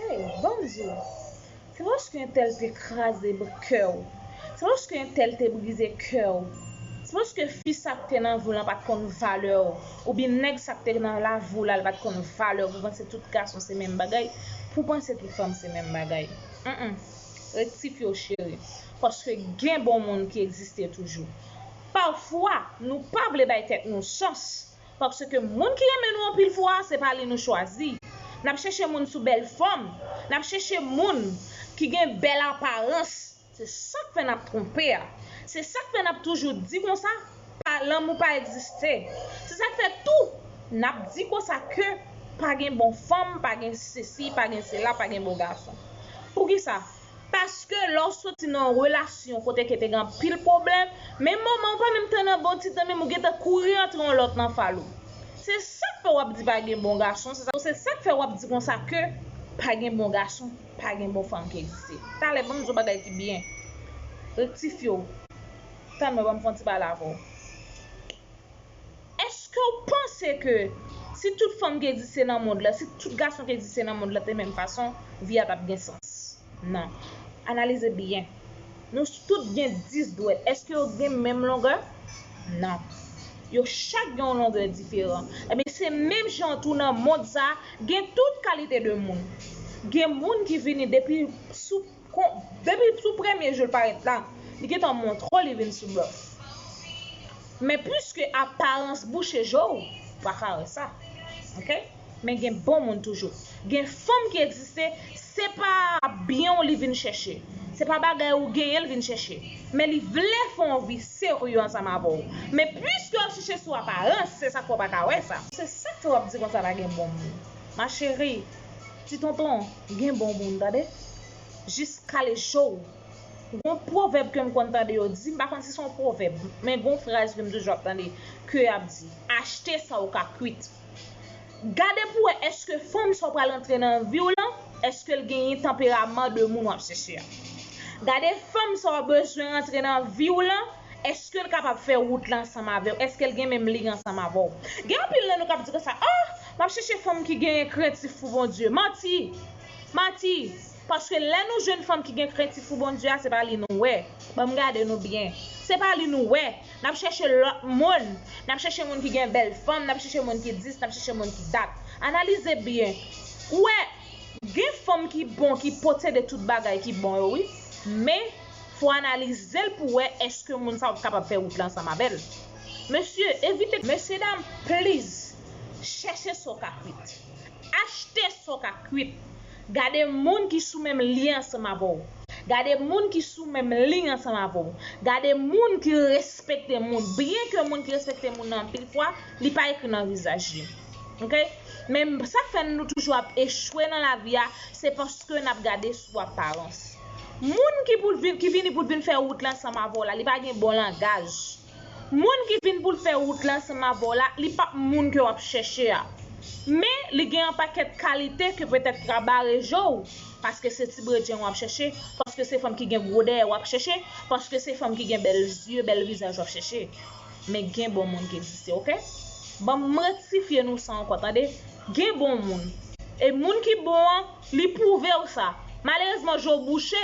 Hey banm di w Se paske yon tèl te kraze kè w Se paske yon tèl te brize kè w Se paske fi sa k te nan vi w lan pa t konn valè w Oubyen nèg sa k te nan lavi w la l pa t konn valè w Pou w panse tout gason se menm bagay Pou w panse tout fanm se menm bagay Humm Rektifye w cheri Paske gen bon moun ki egziste toujou Pafwa nou pa vle bay tèt nou chans Paske moun ki renmen nou anpil fwa se pa li nou chwazi. N ap chèche moun sou bèl fòm, n ap chèche moun ki gen bèl aparans. Se sa k fè n ap twonpe a. Se sa k fè n ap toujou di konsa pa lanmou pa egziste. Se sa k fè tou n ap di konsa ke pa gen bon fanm, pa gen sesi, pa gen sela, pa gen bon gason. Poukisa? Paske lè w soti nan yon relasyon kote ke te gen anpil pwoblèm, menm moman ou pa menm te nan bon ti tan menm ou gentan kouri antre yon lòt nan fal ou. Se sak fè wap di pa gen bon gason, se sak fè wap di konsa ke pa gen bon gason, pa gen bon fanm ki egziste. Talè banm di w bagay ki byen. Rektifye w. Tann mwen banm fè yon ti pale avè w. Eskew panse ke si tout fanm ki egziste nan mond la, si tout gason ki egziste nan mond la te menm fason, vi a pap gen sans? Non. Analize byen. Nou tout gen 10 dwèt, eske yo gen menm longè? Non. Yo chak gen yon longè diferan. Ebyen se menm jan tou nan mond sa, gen tout kalite de moun. Gen moun ki vini depi sou Kon, depi sou premye jou l parèt la, li gen tan montre w li vin sou blòf. Men piske aparans bouche je w, ou pa ka wè sa. Ok? Men gen bon moun toujou. Gen fanm ki egziste, se pa byen w li vin chèche. Se pa bagay ou genyen l vin chèche. Men li vle fè yon vi serye ansanm avè w. Men piske w ap chèche sou aparans, se sa k fè w pa ka wè sa. Se sa k fè w ap di konsa pa gen bon moun. Ma chérie. Ti tonton gen bon moun tande. Jis kale cho w. Gon pwovèb ke m konn tande yo di, m pa konn si se yon pwovèb, men gon fraz ke m toujou ap tande, ke y ap di, achte sa w ka kwit. Gade pou w wè èske fanm sa w pral antre nan vi w lan, èske l genyen tanperaman de moun w ap chèche a. Gade fanm sa w bezwen rantre nan vi w lan. Èske l kapab fè wout la ansanm avè w? Èske l gen menm liy ansanm avè w? Gen anpil nan nou k ap di konsa, Oh! M ap chèche fanm ki genyen krentif pou Bondye. Manti! Manti! Paske lè nou jwenn fanm ki gen krentif pou Bondye a, se pa li nou wè. Ban m gade nou byen. Se pa li nou wè. N ap chèche lòt moun. N ap chèche moun ki gen bèl fòm, n ap chèche moun ki dis, n ap chèche moun ki dat. Analize byen. Ou wè, gen fanm ki bon, ki posede tout bagay ki bon yo wi. Men. Fò analize l pou wè eske moun sa yo t kapab fè wout la ansanm avè l. Mesye, evite. Mesye dam, please, chèche sa w ka kwit. Achte sa w ka kwit. Gade moun ki sou menm lyen ansanm avè w. Gade moun ki sou menm liy ansanm avè w. Gade moun ki respekte moun. Byen ke moun ki respekte moun nan anpil fwa, li pa ekri nan vizaj li. Ok. Men sa k fè nou toujou ap echwe nan lavi a, se paske n ap gade sou aparans. Moun ki pou vin ki vini pou vin fè wout la ansanm avè w la li pa gen bon langaj moun ki vin pou l fè wout la ansanm avè w la li pap moun ke w ap chèche a men li gen yon pakèt kalite ke petèt ki ka bare je w paske se ti bredjen w ap chèche paske se fanm ki gen gwo dèyè w ap chèche paske se fanm ki gen bèl zye bèl vizaj w ap chèche men gen bon moun ki egziste ok banm m rektifye nou sa ankò tande gen bon moun e moun ki bon an. Li pwouvew sa. Malerezman je w bouche,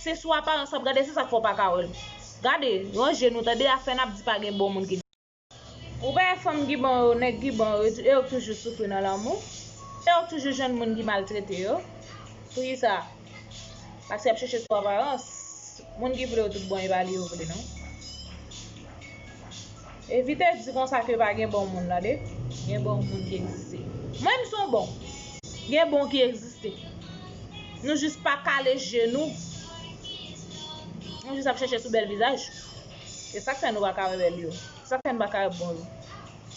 se sou aparans wap gade se sak fè w paka wèl. Gade, ranje nou tande afè nap di pa gen bon moun ki. Ou pa wè fanm ki bon yo, nèg ki bon yo, e yo k toujou soufri nan lanmou, e yo k toujou jwenn moun ki maltrete yo. Poukisa? Paske yap chèche sou aparans. Moun ki vle yo tout bon e pa li yo vle non. Evite di konsa ke pa gen bon moun tande. Gen bon moun ki egziste. Mwen menm son bon. Gen bon ki egziste. Nou jis pa kale je nou. Nou jis ap chèche sou bèl vizaj. E sak fè nou pa ka wè bèl yo. E sak fè nou pa ka wè bon yo.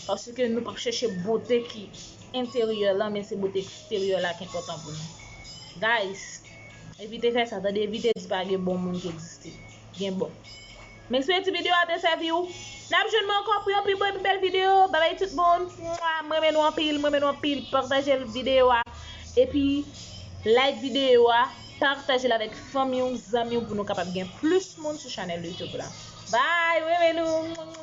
Paske nou pap chèche bote ki enteryè lan men se bote eksteryè la ki enpòtan pou nou. Guys, evite fè sa tande evite di pa gen bon moun ki egziste. Gen bon. Mesi eti video a te sevi ou. Nap jwenn mwen anko pou yon pi bon e pi bel video babay tout moun mwaa m renmen nou anpil m renmen nou anpil partagel video a epi like video a partagel avek fanmi w zanmi w pou nou kapab gen plus moun sou chanel youtube la bye m renmen nou.